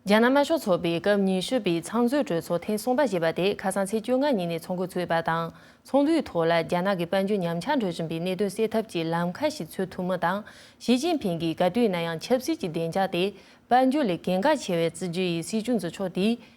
རྒྱ་ནག་དམར་ཤོག་ཚོགས་པའི་སྐབས་ཉི་ཤུ་པའི་ཚང་འཛོད་གྲོས་ཚོགས་ཐེངས་གསུམ་པ་ཞེས་པ་དེ་ཁ་སང་ཚེས་བཅོ་ལྔ་ཉིན་ནས་ཚོགས་འགོ་ཚུགས་པ་དང་ཚོགས་འདུའི་ཐོག་ལ་རྒྱ་ནག་གི་དཔལ་འབྱོར་ཉམས་ཆག་འགྲོ་བཞིན་པའི་གནད་དོན་སེལ་ཐབས་ཀྱི་ལམ་ཁ་ཞིག་འཚོལ་ཐུབ་མིན་དང་ཞི་ཅིན་ཕིང་གིས་ག་དུས་ན་ཡང་ཆབ་སྲིད་ཀྱི་བདེ་འཇགས་དེ་དཔལ་འབྱོར་ལས་གལ་འགངས་ཆེ་བའི་སྲིད་ཇུས་ཡིན་སྲིད་ཆུ་མཛོད་ཕྱོགས་དེའི་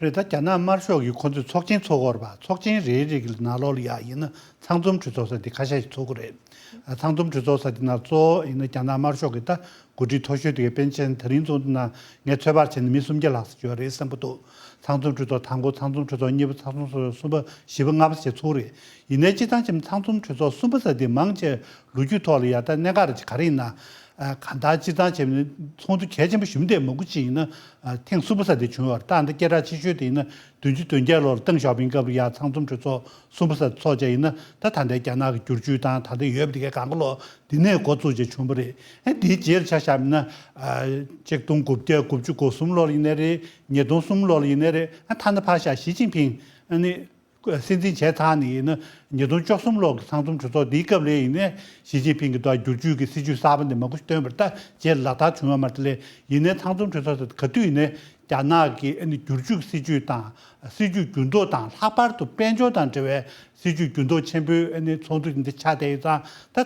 རེད་ད་རྒྱ་ནག་དམར་ཤོག་གིས་ཁོ་ཚོས་ཚོགས་ཆེན་ཚོགས་སྐོར་བ་ཚོགས་ཆེན་རེའི་རིགས་ལ་ནག་ལོག་ཡག་ཡིན་ན་ཚང་འཛོམས་གྲོས་ཚོགས་ས་དེ་ཁ་ཤ་ཞིག་ཚོགས་གི་རེད། ཚང་འཛོམས་གྲོས་ཚོགས་ས་དེ་ནང་གཙོ་བོ་ཡིན་ན་རྒྱ་ནག་དམར་ཤོག་གི་ད་གུ་དྲི་མཐོ་ཤོས་དེ་གའི་པན་ཆེན་ད་རིང་ཚོགས་འདུ་ནང་ངས་ཚོད་དཔག་བྱས་ན་མི་སུམ་བརྒྱ་ལྷག་ཟིག་ཡོད་རེད་བསམ་གི་འདུག་ཚང་འཛོམས་གྲོས་ཚོགས་དང་པོ་ཚང་འཛོམས་གྲོས་ཚོགས་གཉིས་པ་ཚང་འཛོམས་གྲོས་ཚོགས་གསུམ་པ་བཞི་པ་ལྔ་པ་ཞེས་ཚོགས་རེད། ཡིན་ནའི་སྤྱི་ཚང་ཆེ་མོ་ཚང་འཛོམས་གྲོས་ཚོགས་གསུམ་པ་ས་དེ་མང་ཆེ་ལོ་རྒྱུས་ཐོག་ལ་ཡ་ད་གནད་འགག་རེད་ཅེས་ག་རེ་ཡིན་ན། གང་ལྟར་སྤྱིར་བཏང་བྱས་པ་ནི་ཚོགས་འདུ་གལ་ཆེན་པོ་ཞུམ་བསྡད་མ་དགུ་ཅིག་ཡིན་ན་ཐེངས་གསུམ་པ་ས་དེ་བྱུང་བར་རྟགས་འདི་སྐད་གྲགས་ཆེ་ཤོས་དེ་ཡིན་ན་བདུན་ཅུ་དོན་བརྒྱད་ལོར་ཏེང་ཞའོ་ཕིང་སྐབས་རེ་ཡར་ཚང་འཛོམས་གྲོས་ཚོགས་གསུམ་པ་ས་དེ་ཚོགས་བཅས་ཡིན་ན་ད་ད་ལྟའི་རྒྱ་ནག་གི་བསྒྱུར་བཅོས་དང་ད་ལྟའི་ཡོད་པ་དེ་གའི་གང་དགའ་ལོག་འདི་ནས་འགོ་བཙུགས་བཅས་བྱུང་བ་རེད། ཨེ་འདིའི་རྗེས་ལ་ཆ་བཞག་མིན་ན། གཅིག་སྟོང་དགུ་བརྒྱ་དགུ་བཅུ་གོ་གསུམ་ལོར་ཡིན་ནའི་རེད། ཉིས་སྟོང་གསུམ་ལོར་ཡིན་ནའི་རེད། ཐ་ན་ཕ་ཞག་ཞི་ཅིན་ཕིང་ནི། སྲིད་འཛིན་བྱས་ཚར་ནས་ཡིན་ན་ཉིས་སྟོང་བཅོ་གསུམ་ལོག་གི་ཚང་འཛོམས་གྲོས་ཚོགས་འདིའི་སྐབས་ལས་ཡིན་ནས་ཞི་ཅིན་ཕིང་གི་ཏོག་བསྒྱུར་བཅོས་ཀྱི་སྲིད་ཇུས་གསར་པ་འདི་མ་གོ་སྟོན་པར་ལྟ་རྗེས་ལག་བསྟར་བྱུང་ཡོད་མ་རེད་ལས་ཡིན་ནས་ཚང་འཛོམས་གྲོས་ཚོགས་དེ་ག་དུས་ཡིན་ནས་རྒྱ་ནག་གི་བསྒྱུར་བཅོས་ཀྱི་སྲིད་ཇུས་དང་སྲིད་ཇུས་འགྱུར་ལྡོག་དང་ལྷག་པར་དུ་དཔལ་འབྱོར་དང་འབྲེལ་བའི་སྲིད་ཇུས་འགྱུར་ལྡོག་ཆེན་པོའི་ཚོགས་འདུ་འདི་ཆགས་བསྡད་ཡོད་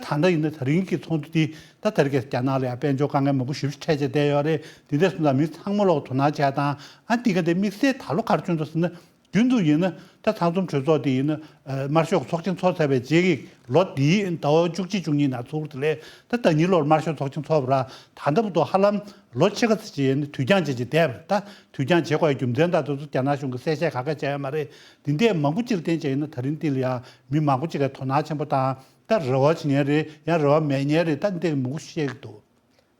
ཙང་ད་ད་ལྟ་ཡིན་ན་ད་རིང་གི་ཚོགས་འདུ་འདི་ད་ད་རྒྱ་རྒྱ་ནག་ལ་ཡང་དཔལ་འབྱོར་དཀའ་ངལ་མང་པོ་ཞིབ་ཞིབ་འཕྲད་བྱས་བསྡད་ཡོད་རེད་འདི་འདྲས་སུ་འཛམ་གླིང་ཚང་མ་ལོག་དོ་སྣང་བྱས་དང་འདི་ག་འདི་དམིགས་བསལ་ད་ལོ་གར་བྱུང་འདུག་ཟེར་ན་རྒྱུན་དུ་ཡིན་ན་ད་ཚང་འཛོམས་གྲོས་ཚོགས་དེ་ཡིན་ན་དམར་ཤོག་གི་ཚོགས་ཆེན་འཚོགས་ཚར་བའི་རྗེས་ཀྱི་ལོ་དེའི་ཟླ་བ་བཅུ་གཅིག་བཅུ་གཉིས་ནང་ཚོགས་དེ་ལས་ད་ཟླ་གཉིས་ལོར་དམར་ཤོག་ཚོགས་ཆེན་འཚོགས་པ་རང་ད་ལྟ་བུ་དོ་ཧ་ལམ་ལོ་ཕྱེད་ཀ་ཚེ་བཅད་ནས་དུས་འགྱངས་བྱེད་ཀྱི་བསྡད་པ་ད་དུས་འགྱངས་བྱེད་དགོས་ཡ་རྒྱུ་མཚན་ད་དུས་ཚོད་རྒྱ་ནག་གཞུང་གི་གསལ་བཤད་ག་ག་བྱས་ཡ་མ་རེད་དེ་འད་མང་པོ་སྤྱིར་བསྟན་བྱས་ཡིན་ན་ད་རིང་འདི་ལ་ཡང་མི་མང་པོ་ཅིག་ག་དོ་སྣང་ཆེན་པོ་དང་ད་རེ་བ་བྱེད་ཉན་རེད་ཡང་རེ་བ་མེད་ཉན་རེད་ད་འད་མང་པོ་བཤད་ཀྱི་འདུག།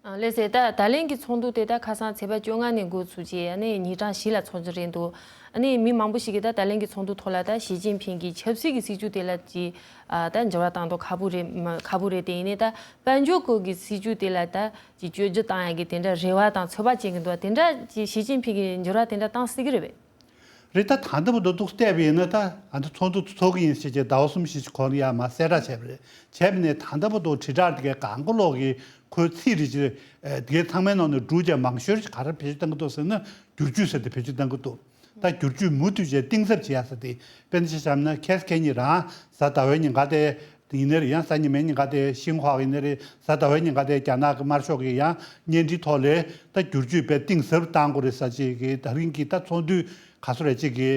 ལས་བྱེད་དག་ད་ལན་གྱི་ཚོགས་འདུ་དེ་དག་ཁ་སང་ཚེས་པ་བཅོ་ལྔ་ནས་འགོ་ཚུགས་རྗེས་ཉིན་གྲངས་བཞི་ལ་འཚོགས་ཀྱི་རེད་འདུག་མི་མང་པོ་ཞིག་གིས་ད་ལན་གྱི་ཚོགས་འདུ་ཐོག་ལ་ཞི་ཅིན་ཕིན་གྱི་ཆབ་སྲིད་ཀྱི་སྲིད་བྱུས་དེ་ལ་ཅིས་འགྱུར་བ་བཏང་དོགས་ཁ་པོ་རེད་དེ་ཡིན་ནས་དཔལ་འབྱོར་སྐོར་གྱི་སྲིད་བྱུས་དེ་ལ་ཅིས་བཅོས་སྒྱུར་བཏང་ཡག་གི་དེ་འདྲ་རེ་བ་དང་ཚོད་དཔག་བྱེད་ཀྱི་འདུག་དེ་འདྲ་ཞི་ཅིན་ཕིན་གྱིས་འགྱུར་བ་དེ་འདྲ་བཏང་སྲིད་ཀྱི་རེད་རེད་ད་ད་འདི་མོ་འདི་འདུག་བལྟས་པ་ཡིན་ན་ད་ང་ཚོ་ཚོགས་འདུ་འཚོག་གི་ཡིན་ཞེས་ཀྱི་ཟླ་བ་གསུམ་བཞི་གོང་ཡར་མར་གསལ་བསྒྲགས་བྱས་པ་རེད་བྱས་པ་ནས་ད་འདི་མོ་འདུག་དྲིལ་བསྒྲགས་དེ་གའི་གང་མགོ་ལོག་གིས་ཁོའི་ཚིག་རེ་གཅིག་དེ་གའི་ཚང་མའི་ནང་ནས་སྒྲུག་བྱས་མང་ཤོས་ཀྱིས་ག་རེ་བེད་སྤྱོད་བཏང་གི་འདུག་ཟེར་ན་བསྒྱུར་བཅོས་ཟེར་ཏེ་བེད་སྤྱོད་བཏང་གི་འདུག་ད་བསྒྱུར་བཅོས་མུ་མཐུད་བྱས་གཏིང་ཟབ་བྱས་ཡ་ཟེར་ཏེ་དཔེ་ན་ཆ་བྱམས་ན་ཁལ་ཁལ་གཉིས་རང་གཟའ་ཟླ་བའི་ཉིན་ག་དེ་དེ་ཡིན་ནའི་རེད་ཡང་གཟའ་ཉི་མའི་ཉིན་ག་དེ་ཤིན་ཧྭ་ཡིན་ནའི་རེད་གཟའ་ཟླ་བའི་ཉིན་ག་དེ་རྒྱ་ནག་གི་དམར་ཤོག་གིས་ཡང་བརྙན་འཕྲིན་ཐོག་ལས་ད་བསྒྱུར་བཅོས་པའི་གཏིང་ཟབ་བཏང་དགོས་རེད་ཟ་ཅིག་གིས་ད་རིང་གི་ད་ཚོགས་འདུའི་ག་སོ་རེད་ཅིག་གི་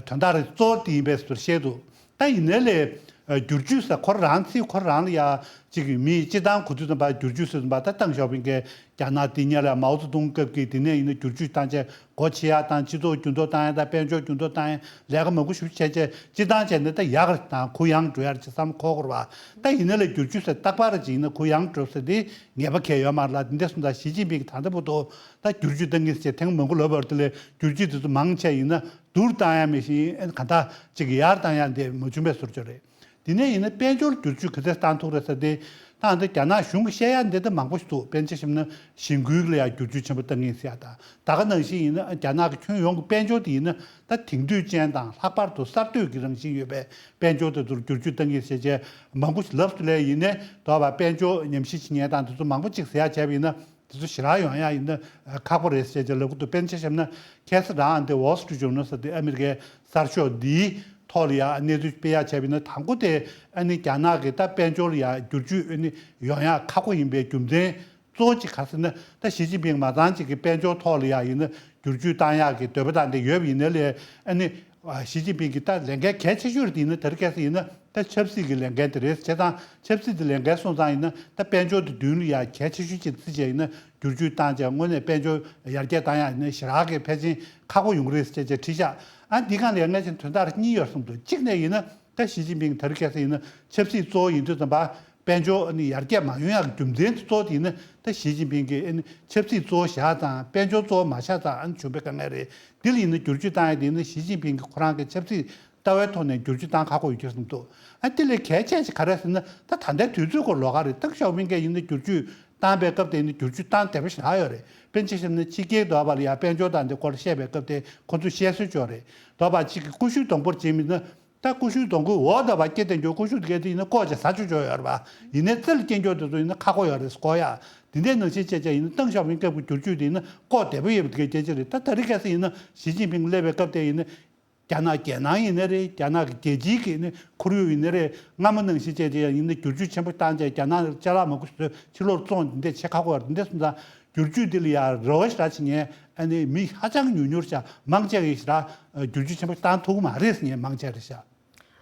དོན་དག་རེད་གཙོ་བོ་དེ་ཡིན་པའི་ཟུར་བཤད་འདུག་ད་ཡིན་ནའི་ལས་བསྒྱུར་བཅོས་ཟེར་ཁོ་རང་ཚིག་ཁོ་རང་ལ་ཡག་ཅིག་གི་མི་སྤྱི་དང་གོ་ཚུལ་ཙམ་པ་བསྒྱུར་བཅོས་ཟེར་ཙམ་པ་ད་ཏང་ཞའོ་ཕིང་གིས་རྒྱ་ནག་དེ་ཉེ་ལ་མའོ་ཙེ་ཏུང་སྐབས་ཀྱི་དེ་ནས་ཡིན་ན་བསྒྱུར་བཅོས་བཏང་ཆེད་སྒོ་ཕྱེ་ཡག་དང་སྤྱི་ཚོགས་འགྱུར་ལྡོག་བཏང་ཡག་དང་དཔལ་འབྱོར་འགྱུར་ལྡོག་བཏང་ཡག་ལས་ཀ་མ་གུ་ཞུ་བྱས་བྱས་སྤྱི་བཏང་བྱས་ནས་ད་ཡག་རེད་དང་གུ་ཡངས་འགྲོ་ཡག་ཅེས་བསམ་ཁོག་ཁོར་བ་ད་ཡིན་ན་ལས་བསྒྱུར་ཆུད་ཟེར་སྟག་ལྤགས་ར་ཅིག་ཡིན་ན་གུ་ཡངས་འགྲོ་ཟེར་དེ་ངེས་པ་གལ་ཡོད་མ་རེད་ལ་འདི་འདས་སོང་ད་ཞི་ཅིན་ཕིང་གི་ད་ལྟ་བུ་ཐོ་ད་བསྒྱུར་ཆུད་བཏང་གིན་ཟེར་ཐེངས་མང་གུ་ལོ་བར་དུ་ལས་བསྒྱུར་ཆུད་དེ་ཚོ་མང་ཆེ་ཡིན་ན་བསྡུར་བཏང་ཡག་མེད་བཞིན་གང་ཐག་ཅིག་ཡར་བཏང་ཡག་འདས་མ་བྱུང་བས་ཟུར་ཆོ་རེད། དེ་ནས་ཡིན་ན་དཔལ་འབྱོར་བསྒྱུར་བཅོས་གི་ཚེ་ཏང་ཐུགས་རེ་ཟ་དེ། ཏང་དེ་རྒྱ་ནག་གཞུང་གི་བཤད་ཡ་འདི་ལྟ་མང་པོ་ཞིག་འདུག་དཔེ་འཆལ་ཞིབ་ན་ཞིང་ཁུལ་ལ་ཡང་བསྒྱུར་བཅོས་ཆེན་པོ་གཏང་གིན་སྲིད་ཨ། ད་ག་ནང་བཞིན་ཡིན་ན་རྒྱ་ནག་གི་ཁྱོན་ཡོངས་ཀྱི་དཔལ་འབྱོར་དེ་ཡིན་ན་ད་དེང་དུས་ཅན་དང་ལྷག་པར་དུ་གསར་གཏོད་ཀྱི་རང་བཞིན་ཡོད་པའི་དཔལ་འབྱོར་དེ་ཚོར་བསྒྱུར་བཅོས་གཏང་གིན་བྱེད་བྱེད་མང་པོ་ཞིག་ལབ་སུ་ལས་ཡིན་ནས་དོར་བ་དཔལ་འབྱོར་ཉམས་ཞིབ་བྱེད་ཉན་སྟངས་དེ་ཚོ་མང་པོ་གཅིག་ཟེར་ཡ་བྱས་པ་ཡིན་ན་དེ་ཚོ་ཞི་རག་ཡོང་ཡག་ཡིན་ན་ཁག་པོ་རེད་ཟེར་ཅེས་ལག་ཁུ་དུ་དཔེ་མཆན་བཤམས་ན་ཁྱད་ས་རང་ཨ་འདི Wall Street Journal ཟེར་དེ་ཨ་མི་རི་ཀའི་གསར་ཤོག་འདིའི་ཐོག་ལ་ཡང་གནས་ཚུལ་སྤེལ་ཡག་བྱས་པས་ན་དང་པོ་དེ་ཨ་ནི་རྒྱ་ནག་གི་ད་དཔལ་འབྱོར་ལ་ཡང་བསྒྱུར་བཅོས་ཨེ་ནི་ཡོང་ཡག་ཁག་པོ་ཡིན་པའི་རྒྱུ་མཚན་གཙོ་བོ་གཅིག་ག་ཟེར་ན་ད་ཞི་ཅིན་ཕིང་མ་ཚང་གཅིག་གི་དཔལ་འབྱོར་ཐོག་ལ་ཡང་ཡིན་ན་བསྒྱུར་བཅོས་བཏང་ཡག་གི་འདོད་པ་དང་དེ་ཡོད་པ་ཡིན་ན་ལས་ཨ་ནི་ཞི་ཅིན་ཕིང་གིས་ད་ལས་འགན་གལ་ཆེ་ཤོས་རེ་ཡིན་ན་དེར་བསྐྱལ་ས་ཡིན་ན་ད་ཆབ་སྲིད་ཀྱི་ལས་འགན་དེ་རེད་བྱས་ཙང་ཆབ་སྲིད་དེ་ལས་འགན་སོང་ཙང་ཡིན་ན་ད་དཔལ་འབྱོར་དེ་བདུན་ལ་ཡ་གལ་ཆེ་ཤོས་ཅིག་རེད་ཅེས་བྱས་ཡིན་ན་བསྒྱུར་བཅོས་བཏང་ཅིང་དངོས་གནས་དཔལ་འབྱོར་ཡར་རྒྱས་བཏང་ཡང་ཡིན་ན་ཞི་རགས་ཀྱི་ཕལ་ཆེན་ཁག་པོ་ཡོང་གི་རེད་ཅེས་བཅའ་ཁྲིད་བཞག་ཨ་འདི་གང་ལས་སྔ་ཕྱི་དོན་དག་གཉིས་ཡོད་རེད་གསུངས་འདུག་གཅིག་ནས་ཡིན་ན་ད་ཞི་ཅིན་ཕིང་དེར་བསྐྱལ་ས་ཡིན་ན་ཆབ་སྲིད་གཙོ་བོ་ཡིན་དུས་ཙམ་པ་དཔལ་འབྱོར་ཡར་རྒྱས་མ་ཡོང་ཡང་རྒྱུ་མཚན་དེ་གཙོ་བོ་དེ་ནི་ད་ཞི་ཅིན་ཕིང་གི་ཆབ་སྲིད་གཙོ་བོ་བཞག་དང་དཔལ་འབྱོར་གཙོ་བོ་མ་ཆགས་ཙང་བྱུང་བའི་དཀའ་ངལ་རེད། དེ་ལ་ཡིན་ན་བསྒྱུར་བཅོས་བཏང་ཡས་དེ་ནི་ཞི་ཅིན་ཕིང་གི་ཁོ་རང་གི་ཆབ་སྲིད་ལྟ་བའི་ཐོག་ནས་བསྒྱུར་བཅོས་བཏང་ཁག་པོ་ཡོད་ཁྱེད་གསུངས་འདུག་ཨ་དེ་ལས་གལ་ཆེ་ཞིག་ག་རེད་ཟེར་ན་ད་ད་ལྟའི་དུས་ཚོད་སྐོར་ལོ་ག་རེད་སྟག་ཤོག་བྷིང་གས་ཡིན་ན་བསྒྱུར་བཅོས་བཏང་པའི་སྐབས་དེ་ནི་བསྒྱུར་བཅོས་བཏང་དེ་བཞིན་ལྷག་ཡོད་རེད་དཔེ་ཅི་ཞེ་ན་ཕྱི་རྒྱལ་གྱི་དོག་པ་ལ་ཡང་དཔལ་འབྱོར་དང་དེ་སྐོར་བཤད་པའི་སྐབས་དེ་ཁོ་ཚོས་བཤད་སྲོལ་བྱུང་རེད་དོག་པ་གཅིག་གི་ཀུ་ཤུ་དང་པོར་བྱེད་མི་ན་རྟ་ཀུ་ཤུའི་སྡོང་ཁུལ་འོག་ཟླ་བ་སྐྱེལ་ཐེངས་ཀྱོག་ཀུ་ཤུ་སྐྱེལ་དུས་ཡིན་ན་ཀོག་ཅིག་ཟ་ཆོག་ཆོག་ཡོད་རེད་པ། ཡིན་ནའི་རྩེ་ལ་སྐྱེལ་མགྱོགས་དེ་ཚོ་ཡིན་ན་ཁ་ཁོག་ཡོད་རེད་ཟོག་ཡ། དེ་འདྲའི་ནང་བཞིན་བཅད་བཅད་ཡིན་ན་ཏང་ཞའོ་ཕིང་སྐབས་ཀྱི་བསྒྱུར་བཅོས་དེ་ཡིན་ན་ཀོག་བདེ་པོ་ཡོད་པ་དེ་གའི་རྒྱལ་སྤྱི་རེད་ད་ད་རི་ག་སི་ཡིན་ན་ཞི་ཅིན་ཕིང་སླེབས་པའི་སྐབས་དེ་ཡིན་ན། རྒྱ་ནག་རྒྱལ་ནང་ཡིན་ནའི་རེད་རྒྱ་ནག་གི་རྒྱལ་སྤྱིའི་གི་ཁོར་ཡུག་ཡིན་ནའི་རེད་སྔ་མོ་ནང་བཞིན་བཅད་བཅད་ཡང་ཡིན་ན་བསྒྱུར་བཅོས་ཆེན་པོ་བཏང་རྗེས་རྒྱ་ནག་ལ་ལྕེ་ལག་མ་ཁུར་བཟོས་ཕྱིར་ལོག་བཙོང་དེ་འདྲས་བྱེད་ཁག་པོ་ཡོད་རེད་འདི་འདྲས་སོང་ཙང། སྒྱུར་བཅོས་འདི་ལ་ཡ་རོ་ཞེས་ར་བྱེད་ངས་ཨ་ནེ་མི་ཧ་ཅང་ཉུར་ཉུར་བྱ་མང་ཆེ་གིས་ར་སྒྱུར་བཅོས་ཆེན་པོ་བཏང་ཐུག་མ་རེད་ངས་མང་ཆེ་རེད་བྱ།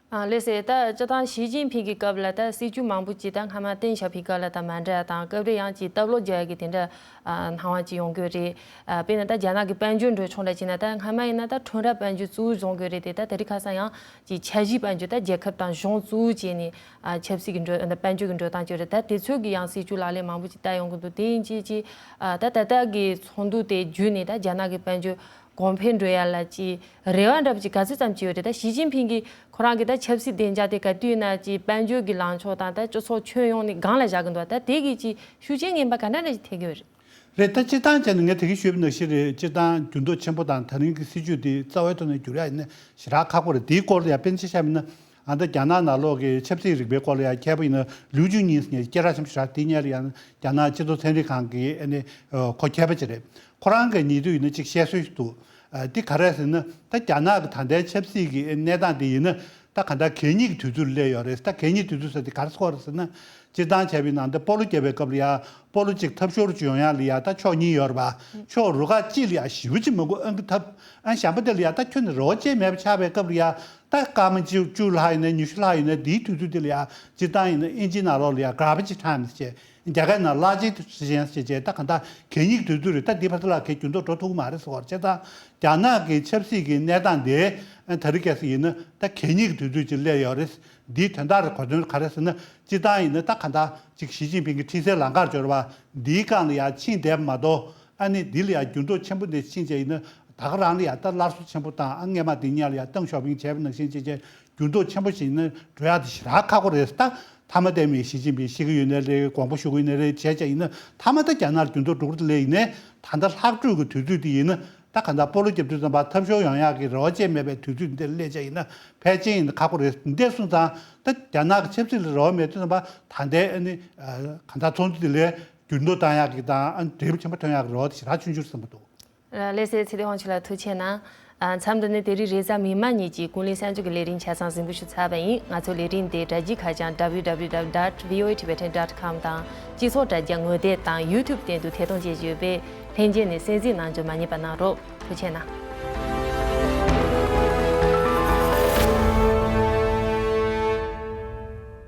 ལས་སད་ད་སྤྱི་དང་ཞི་ཅིན་ཕིན་གི་སྐབས་ལ་ད་སྲིད་ཇུས་མང་པོ་ཅིག་ད་སྔ་མ་ཏེན་ཞཱ་ཕི་ག་ལ་ད་མ་འདྲ་དང་སྐབས་རེ་ཡང་ཅིག་ད་བློ་རྒྱ་གི་དེ་འདྲ་སྣང་བ་ཅིག་ཡོང་གི་རེད་དཔེར་ན་ད་རྒྱ་ནག་གི་དཔལ་འབྱོར་འགྲོས་ཕྱོགས་འདྲ་ཅིག་ན་ད་སྔ་མ་ཡིན་ན་ད་ཁྲོན་ར་དཔལ་འབྱོར་གཙོ་བོ་བཟུང་གི་རེད་དེ་ད་དེ་རིགས་ཁ་སང་ཡང་ཅིག་འཆར་གཞི་དཔལ་འབྱོར་ད་རྒྱལ་ཁབ་དང་གཞུང་གཙོ་བོ་བྱས་ནས་ཆབ་སྲིད་ཀྱི་འགྲོས་དང་དཔལ་འབྱོར་གྱི་འགྲོས་དང་བཅས་རེད་ད་དེ་ཚོད་ཀྱི་ཡང་སྲིད་ཅུ་ལག་ལེན་མང་པོ་ཅིག་བསྟར་ཡོང་གི་འདུག་དེ་ཡིན་ཅིག་ཅིག་ད་ད་ལྟ་གི་ཚོགས་འདུ་དེ་བརྒྱུད་ནས་ད་རྒྱ་ནག་གི་དཔལ་འབྱོར་གོང་འཕེལ་འགྲོ་ཡ་ལ་ཅི་རེ་བ་འདྲ་པོ་ཅིག་ག་ཚོད་ཙམ་བྱས་ཡོད་རེད་ད་ཞི་ཅིན་ཕིན་གྱིས་ཁོ་རང་གི་ད་ཆབ་སྲིད་བདེ་འཇགས་དེ་ག་དུས་ན་ཅིག་དཔལ་འབྱོར་གྱི་ལངས་ཕྱོགས་དང་ད་སྤྱི་ཚོགས་ཁྱོན་ཡོངས་ནས་སྒང་ལ་བཞག་གི་འདུག་ད་དེ་གིས་ཅིག་ཤུགས་རྐྱེན་ངན་པ་ག་འདྲ་འདྲ་ཅིག་ཐེབས་ཀྱི་ཡོད་རེད། རེད་ད་སྤྱིར་བཏང་བྱས་ན་ངས་དེ་གའི་ཤོད་བུ་ནག་ཤི་རེད་སྤྱིར་བཏང་འགྱུར་ལྡོག་ཆེན་པོ་དང་ད་རིང་གི་སྲིད་བྱུས་དེ་རྩ་བའི་ཐོག་ནས་བསྒྱུར་ཡ་ཡིན་ན་ཞེ་དྲག་ཁག་པོ་རེད་དེའི་སྐོར་ལ་ཡང་སྤེན་ཚེ་ཤར་མིན་ན་ཨ་མདོ་རྒྱ་ནག་ནང་ལོག་གི་ཆབ་སྲིད་རིག་པའི་སྐོར་ལ་ཡང་མཁས་པོ་ཡིན་ན་ལིའུ་ཅུན་ཉིན་ཟེར་ནས་སྐྱེས་ར་ཆེན་པོ་ཞིག་གྲགས་དེ་གཉེར་ཡང་རྒྱ་ནག་སྤྱི་ཚོགས་ཚན་རིག་ཁང་གིས་ཨེ་ནི་ཁོ་མཁས་པ་ཅིག་རེད། ཁོ་རང་གིས་ཉེ་དུས་ཡིན་ན་ཅིག་བཤད་སྲོལ་ཞིག་འདུག་དེ་ག་རེད་ཟེར་ན་ད་རྒྱ་ནག་གི་ད་ལྟའི་ཆབ་སྲིད་ཀྱི་ཨེ་གནས་སྟངས་དེ་ཡིན་ན་ད་ག་འདྲ་གད་སྙིགས་ཀྱི་དུས་ཚོད་ལ་སླེབས་ཡོད་རེད་ད་གད་སྙིགས་དུས་ཚོད་ཟེར་དེ་ག་རེ་སྐོར་རེད་ཟེར་ན་སྤྱིར་བཏང་བྱ་བའི་ནང་ད་སྤོ་ལོ་རྒྱབ་པའི་སྐབས་ལ་ཡང་སྤོ་ལོ་གཅིག་ཐབས་ཤོར་བྱུང་ཡང་ལ་ཡང་ད་ཕྱོགས་གཉིས་ཡོད་རེད་པ་ཕྱོགས་རུ་ཁག་གཅིག་ལ་ཡང་ཞི་བ་གཅིག་མ་གོ་ཨང་གི་ཐབས་ཨང་བཞམ་པ་དེ་ལ་ཡང་ད་ཁྱོད་ནི་རེ་བ་ཅན་མེད་པ་ཆགས་པའི་སྐབས་ལ་ཡང་ད་སྐར་མ་བཅུ་བཅུ་ལྷག་ཡིན་ན་ཉི་ཤུ་ལྷག་ཡིན་ན་དེའི་དུས་ཚོད་དེ་ལ་ཡང་སྤྱིར་བཏང་ཡིན་ན་ཨིན་ཇིའི་ནང་ལོགས་ལ་ཡང Garbage Time ཞེས་རྒྱ་གར་ནང་གླ་བྱེད་དུས་ཚོད་གཞན་ཞེས་བྱས་ད་གང་ལྟར་གད་སྙིགས་དུས་ཚོད་རེད་ད་དེའི་བར་དུ་ལ་གད་གྱོན་དུ་འགྲོ་ཐུབ་ཀྱི་མ་རེད་ཟེར་བར་བྱས་ཙང་རྒྱ་ནག་གི་ཆབ་སྲིད་ཀྱི་གནས་སྟངས་དེ་ད་རེས་གལ་སྲིད་ཡིན་ན་ད་གད་སྙིགས་དུས་ཚོད་ཅིག་བསླེབས་ཡོད་རེད། འདིའི་དོན་དག་རེད་གོ་དོན་ག་རེད་ཟེར་ན་སྤྱིར་བཏང་ཡིན་ན་ད་གང་ལྟར་གཅིག་ཞི་ཅིན་ཕིང་གི་འཁྲིད་སའི་ལམ་ཁར་འབྱོར་བ་འདིའི་སྒང་ལ་ཡང་ཕྱིན་བསྡད་པ་མ་གཏོགས་ཨ་ནི་འདི་ལ་ཡང་འགྱུར་ལྡོག་ཆེན་པོ་འདི་ཕྱིན་ཆད་ཡིན་ན་ད་ག་རང་ལ་ཡང་ད་སླར་གསོ་ཆེན་པོ་དང་ཨ་རྔན་མ་འདི་གཉལ་ལ་ཡང་ཏང་ཞའོ་ཕིང་བྱས་པ་ནང་བཞིན་བྱས་ཆད་འགྱུར་ལྡོག་ཆེན་པོ་ཞིག་ཡིན་ན་འགྲོ་ཡག་དེ་ཞི་རག་ཁག་པོ་རེད་ད་མཐའ་མ་ལྟད་མོ་ཡིན་ཞི་ཅིན་ཕིང་ཤི་གི་ཡོད་ནའི་ལས་དགོངས་པ་ཞུ་གི་ཡོད་ནའི་རེད་བྱས་ཆད་ཡིན་ན་མཐའ་མ་ད་རྒྱ་ནག་ལ་འགྱུར་ལྡོག་འགྲོ་གི་ལས་ཡིན་ནའི་ད་ལྟ་ལྷག་སྤྲོད་གི་དུས་ཚོད་འདི་ཡིན་ན་ད་ག་ད་སྤོ་ལོ་རྒྱབ་དུས་ཙམ་བར་ཐབས་ཤོར་ཡང་ཡག་གི་རེ་བ་ཅན་མེད་པའི་དུས་ཚོད་འདིར་སླེབས་ཆད་ཡིན་ན་ཕལ་ཆེན་ཡིན་ན་ཁག་པོ་རེད་འདི་འདས་སོང་ཙང་ད་རྒྱ་ནག་གི་ཆབ་སྲིད་ལ་རེ་བ་མེད་དུས་ཙམ་བར་ད་འདས་ཨ་ནི་ག་ད་ཚོགས་འདུ་འདི་ལས་འགྱུར་མདོ་དང་ཡག་གི་དང་ཨ་འབྲས་བུ་ཆེན་པོ་ཐོན་ཡག་གི་རོ་དེ་ཞེ་དྲག་ཆུ་འགྱུར་ཟིན་པོ་འདུག། ཀླད་སའི་ཚེ་དེ་ཧོང་ཆུ་ལ་ཐུག་ཆེ་ན། མཚམས་འདི་ནི་དེ་རིང་རེས་གཟའ་མིག་དམར་གཉིས་ཀྱི་ཀུན་གླེང་གསར་འགྱུར་གྱི་ལས་རིང་ཆ་ཚང་ཟིན་པོ་ཞུ་ཚར་བ་ཡིན་ང་ཚོ་ལས་རིང་དེ་དྲ་རྒྱའི་ཁ་བྱང www dot voa tibetan dot com དང་སྤྱི་ཚོགས་དྲ་རྒྱ་ངོས་དེབ་དང YouTube སྟེང་དུ་ཐད་གཏོང་བྱེད་ཡོད་པས་ལྷན་རྒྱས་ནས་གསན་གཟིགས་གནང་འཇོག་མ་ཉེས་པ་གནང་རོགས་ཐུག་ཆེ་ན།